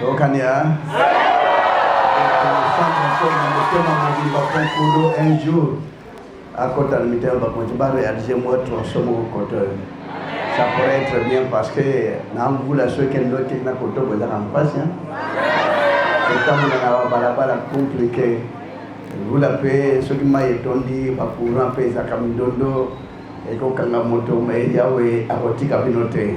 tokania ekofanda mpo na motema mobimba konkulu un jour akota na mitema bakonzi barealise mwa tronso moko koto oyo ça pourrait être bien parce que na mvula soki endoki na koto bozaka mpasi kotambola na babalabala compliqué mvula mpe soki mai etondi bacourant mpe ezaka mindondo ekokanga moto mai yawe akotika bino te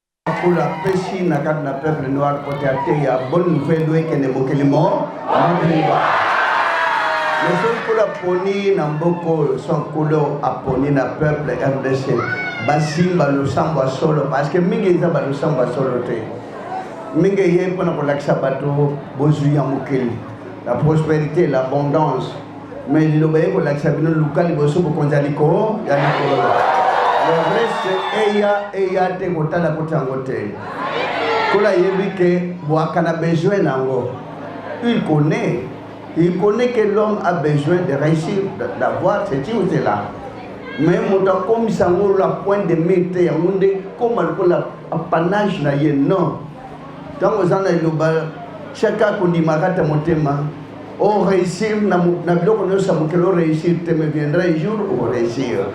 Makula pesi na kati na peuple noir kote ya te ya bonne nouvelle oyo ekende mokili mo mobimba mesokula poni na mboka oyo sonkula aponi na peuple rdc basimba losambo ya solo parceke mingi eza balosambo ya solo te mingi eye mpona kolakisa bato bozwi ya mokili la prosperité l'abondance Mais liloba ye kolakisa bino luka liboso bokonzi ya likolo ya likolo. Le reste eya eya te kotala koti yango te. Kola yebi ke bwaka na besoin nango. Il connaît. Il connaît que l'homme a besoin de réussir, d'avoir ceci ou cela. Mais moto akomisa yango la pointe de mire te yango nde koma lokola apanage na ye non. Tango eza na eloba chaka kondima kata motema o oh, réussir na, na biloko nyonso ya mokili o oh, réussir te me viendra un jour o oh, réussir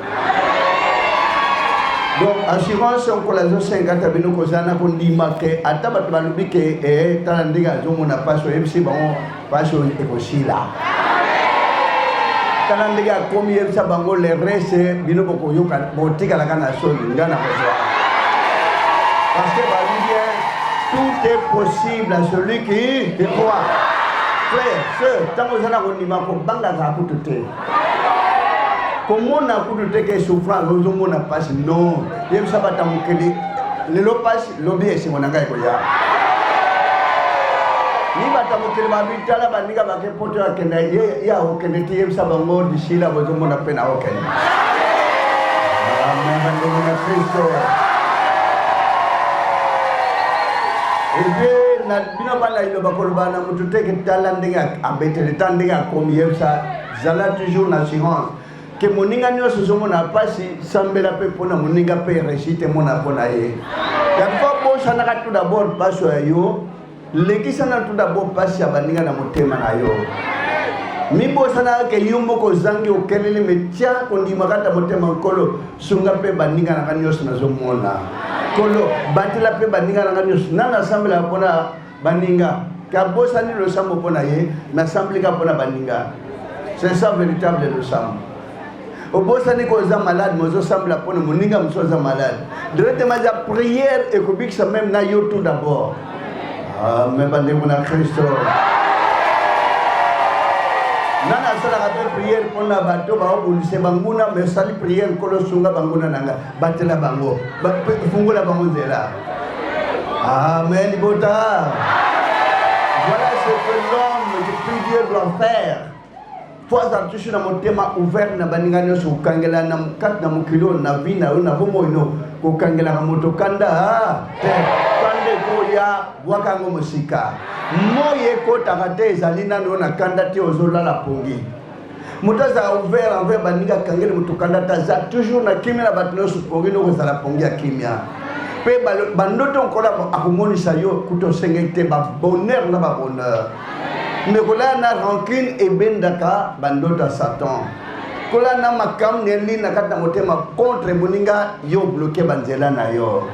donc assurance okola azosenga ta bino kozala na kondima ke ata bato balobi ke eh, tala ndenge azomona mpasi oyebisi bango pasi oyo ekosila tala ndenge akomi yebisa bango le reste bino bokoyoka botikalaka na soni nga na kozwa parce que babi bien tout est possible à celui qui qui croit frère sœur ntango oza na kondima kobangaka kutu te komona kutu te ke souffrance ozomona mpasi non yebisa bata mokili lelo mpasi lobi esengo na ngai ekoya ni bato ya mokili babitala baninga bake poto ya kenda ye akokende te yebisa bango lisila bozomona mpe na okende bandeko na kristo epe na bino bana ino bakoloba na motu te ketala ndenge abetele ta ndenge akomi yebisa zala toujours na assurance ke moninga nyonso ozomona mpasi sambela mpe mpo na moninga mpe resite mona mpo na ye yango bosanaka tout d'abord mpasi ya yo lekisana tout d'abord mpasi ya baninga na motema na yo mibosanaka ke yo moko ozangi okeleli metya kondima kata motema nkolo sunga mpe baninga na nga nyonso nazomona nkolo batela mpe baninga na nga nyonso nani asambelaka mpona Baninga, kabosani losambo mpo na ye, nasambeli kaka mpo na baninga. C'est ça véritable losambo. obosani ko oza malade mais ozosambela mpo na moninga mosusu aza malade directement eza prière ekobikisa meme na yo tout d'abord ah, me bandeko na kristo nani asalaka mpe prière mpo na bato baobundise banguna me osali prière nkolo sunga banguna na ngai Batela bango, fungola bango nzela. Amen, libota. Voilà ce que l'homme depuis Dieu doit faire. Toi, azala toujours na motema ouvert na baninga nyonso kokangela na kati na mokili oyo na vi na yo na bomoi no kokangelaka moto kanda ah, te kanda ekoya bwaka yango mosika moi ekotaka te ezali nano na kanda te ozolala pongi moto azala ouvert envers baningi akangeli moto kanda te aza toujours na kimia na bato nyonso pongi noko ezala pongi ya kimia mpe bandoto nkola akomonisa yo kuta osengeli te babonheur na babonheur me kolala na rancune ebendaka bandoto ya satan kolala na makambo neli na kati na motema contre moninga yo bloke banzela na yo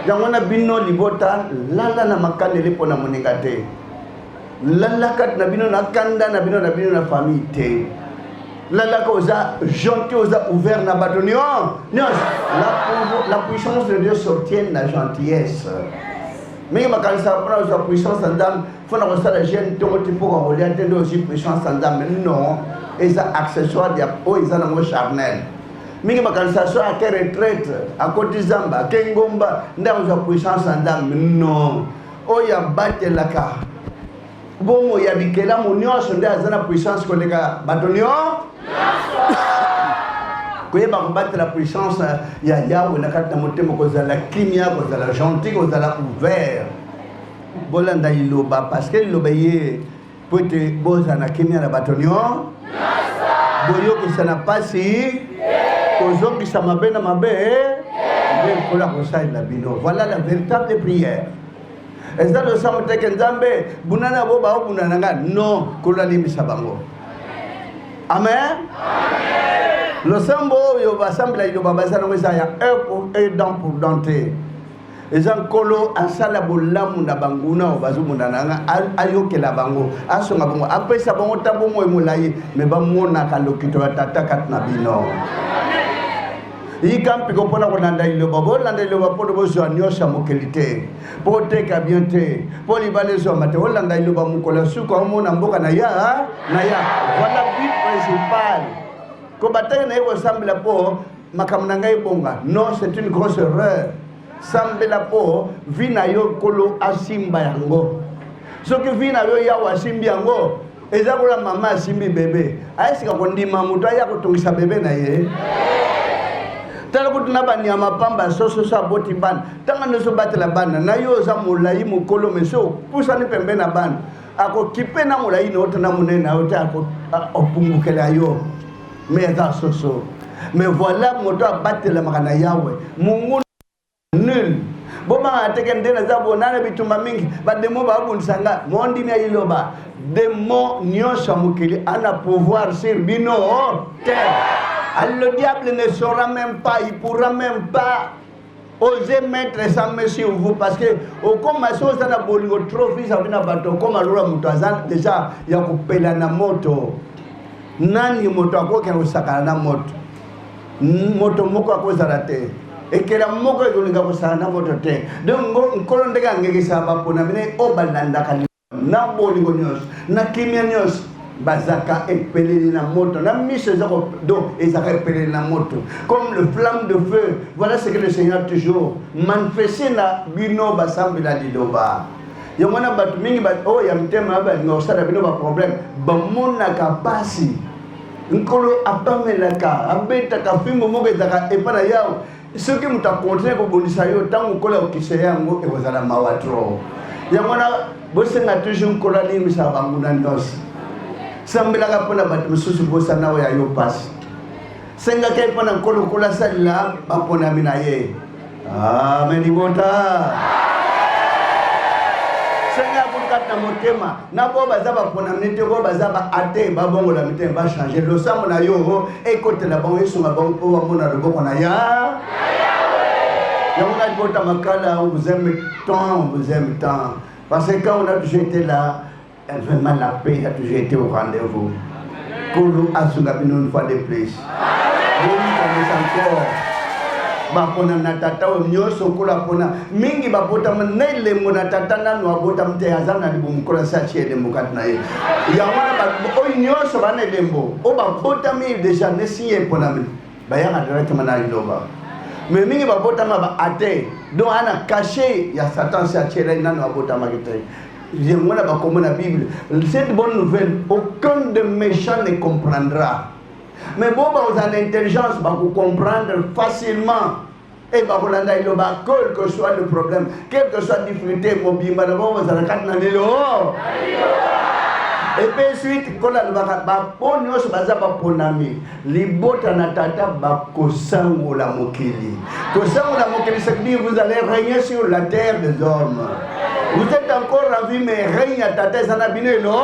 yango na bino libota lala na makaneli mpo na moninga te lalaka na bino na kanda na bino na bino na famille te lalaka oza gentil oza ouvert na bato nyon nyonso la puissance de dieu s'obtienne na gentillesse mingi makanisaka mpona kozwa puissance ya nzambe mpo na kosala jeune ntongo ti mpo kakolia te nde ozwi puissance ya nzambe non eza accessoire ya oyo eza nango charnel mingi makanisa so ake retraite akoti zamba ake ngomba nde akozwa puissance ya nzambe non oyo abatelaka bomoi ya bikelamu nyonso nde aza na puissance koleka bato nyonso koyeba kobatela puissance ya yawe na kati na motema kozala kimia kozala gentil kozala ouvert bolanda liloba parce que liloba ye mpo ete bozala na kimia na bato nyonso boyokisa na mpasi kozongisa mabe na mabe nde nkolo akosalela bino voilà la véritable prière eza losambo teke nzambe buna na bo baobunda na ngai non nkolo alimbisa bango amen losambo oyo basambela liloba baza nango eza ya heure pour heure dent pour dent te eza nkolo asala bolamu na banguna oyo bazomona na nga ayokela bango asunga bango apesa bango ta bomoi molai me bamonaka lokito ya tata kati na bino yika mpiko mpo na kolanda liloba bolanda liloba mpo bozwa nyonso ya mokeli te mpo oteka bien te mpo libala ezwama te olanda liloba mokolo ya suka omona mboka na ya na ya voilà but principal kobataki na ye kosambela mpo makambo na ngai ebonga non c'est une grosse erreur sambela mpo vi na yo nkolo asimba yango soki vi na yo yawe asimbi yango eza kola mama asimbi bebe ayesika kondima moto aya kotungisa bebe na ye tala kutu na banyama pamba sososo aboti bana ntango nyonso obatela bana na yo oza molai mokolo mesi opusani pembe na bana akokipe na molai na yo te na monene na yo te opungukela yo me eza soso me voilà moto abatelamaka na yawe monguna nul bomaka na teke nde naza bona na bitumba mingi bademo babundisa nga mondimi ya liloba demo nyonso ya mokili ana pouvoir sur bino te le diable ne saura même pas il pourra même pas oser mettre sans mesure sur vous parce que okoma so oza na bolingo trop vis à vis na bato okoma lola moto aza deja ya kopela na moto nani moto akokende kosakana na moto moto moko akozala te ekela moko ekolinga kosala na moto te donc nkolo ndenge angekisaka baponami ne oyo balandaka na bolingo nyonso na kimia nyonso bazaka epeleli na moto na miso eza donc ezaka epeleli na moto comme le flamme de feu voilà ce que le seigneur toujours manifeste na bino basambi na liloba yango wana bato mingi oyo oh, ya mitema ya balinga kosala bino baproblème bamonaka mpasi nkolo apamelaka abetaka fimbo moko ezaka epai na yawe soki moto akontinue kobundisa yo ntango okola kokisa yango ekozala mawa tro yango wana bosenga toujours nkolo alimbisa banguna nyonso sambelaka mpo na bato mosusu bosana oyo ya yo mpasi sengaka ye mpo na nkolo okola asalela baponami na ye amen libota senga kati na motema na bo baza baponami te bo baza ba ate babongola mitema bachange losambo na yo ekotela bango esunga bango mpo bamona loboko na ya yango ngai kota makala on vous aime tant on vous aime tant parce que quand on a toujours été là vraiment la paix a toujours été au rendez-vous Kolo asunga bino une fois de plus. Bomikanisa encore bapona na tata oyo nyonso okola pona mingi babotama na elembo na tata nanu abotama te aza na libumu kola se atie elembo kati na ye yango wana oyo nyonso baa na elembo oyo babotami deja nesiye eponami bayaka directement na liloba me mingi babotama ba ate donc ana kashe ya satan se atielai nanu abotamaki te yango wana bakoma na bible cette bonne nouvelle aucun de méchant ne comprendra mais bo bakozala na intelligence bakocomprendre facilement e bakolanda eloba quel que soit le problème quel que soit difficulté mobimba na bango bazala kati na lelo epe suite kola alobaka bapo nyonso baza baponami libota na tata bakosangola mokili kosangola mokili ça veut dire vous allez régner sur la terre des hommes vous êtes encore en vie mais règne ya tata eza na bino elo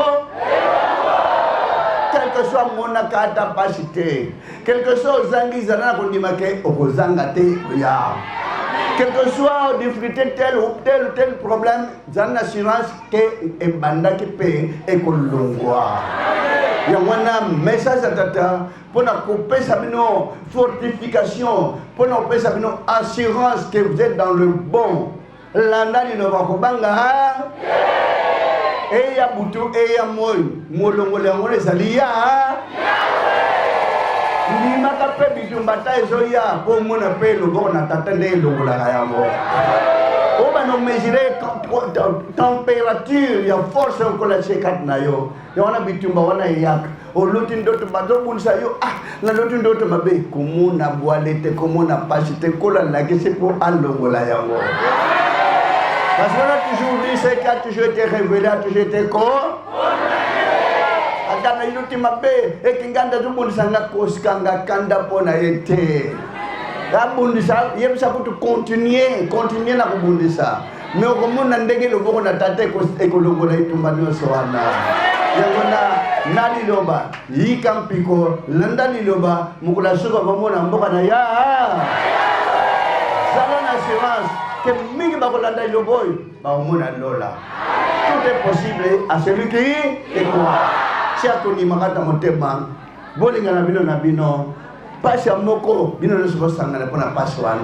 quelque soit amonaka ata mpasi te quelque soit ozangi ezala na kondima ke okozanga te oya quelque soit difficulté tel ou tel ou tel problème zala na assurance te ebandaki mpe ekolongwa yango wana message ya tata mpo na kopesa bino fortification mpo na kopesa bino assurance que vous êtes dans le bon landa lino bakobanga eya butu eya moi Molongoli yango ezali ya ndimaka mpe bitumba ta ezoya mpo omona mpe loboko na tata nde elongolaka yango oyo banomesure temperature ya force okola tie kati na yo ya wana bitumba wana eyaka oloti ndoto bazobundisa yo ah naloti ndoto mabe komona bwale te komona pasi te kola lakisi mpo alongola yango parce que on a toujours dit ce qui a toujours été révélé a toujours été corps ata naino te mabe ete ngai nde azobundisa nga kosika nga kanda mpo na ye te abundisa yebisa kutu continue continue na kobundisa me okomona ndenge loboko na tata ekolongola etumba nyonso wana yango na na liloba yika mpiko landa liloba mokolo ya suka bamona mboka na ya zala na assurance ke mingi bakolanda liloba oyo bakomona lola tout est possible à celui qui y croit tia kondimaka na motema bolingana bino na bino mpasi ya moko bino nyonso bosangana mpo na mpasi wana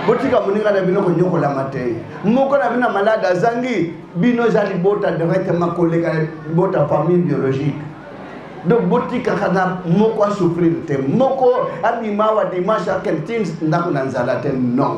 botika moninga na bino konyokolama te moko na bino ya malade azangi bino eza libota directement koleka libota famille biologique donc botikaka na moko asouffrir te moko abima awa dimanche akende ti ndako na nzala te non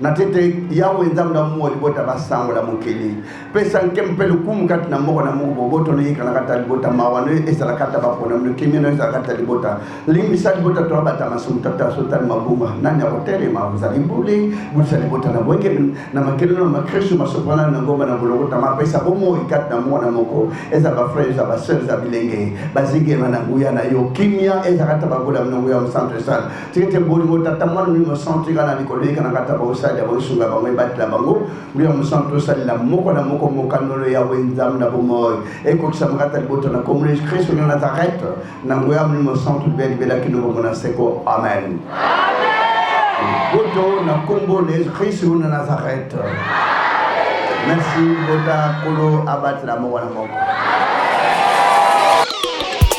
na tete yawe nzambe na mua libota basangola mokili pesa nke mpe lokumu kati na moko na moko boboto noyikana kati ya libota mawa no ezala kati ya baponami lokimi no ezala kati ya libota limbisa libota to abata masumu tata asotani mabunga nani akotelema ozali mbuli bulisa libota na boyike na makelelo na makristu masopana na ngomba na bolokota mapesa bomoi kati na moko na moko ezala bafrere ezala baseur eza bilenge bazingema na nguya na yo kimia ezala kati ya babola mna nguya mosantu esala tete bolingo tata mwana mimi mosantu eka na likolo eka na kata baosali ya bosunga bango ebatela bango mbiya mosantu tosalela moko na moko mokanolo ya we nzambe na bomoi ekokisa mokata libota na kombo yesu kristo na nazareth na ngoya mimi mosantu libe libela kino bombo na seko amen boto na kombo na yesu kristo na nazareth merci bota kolo abatela moko na moko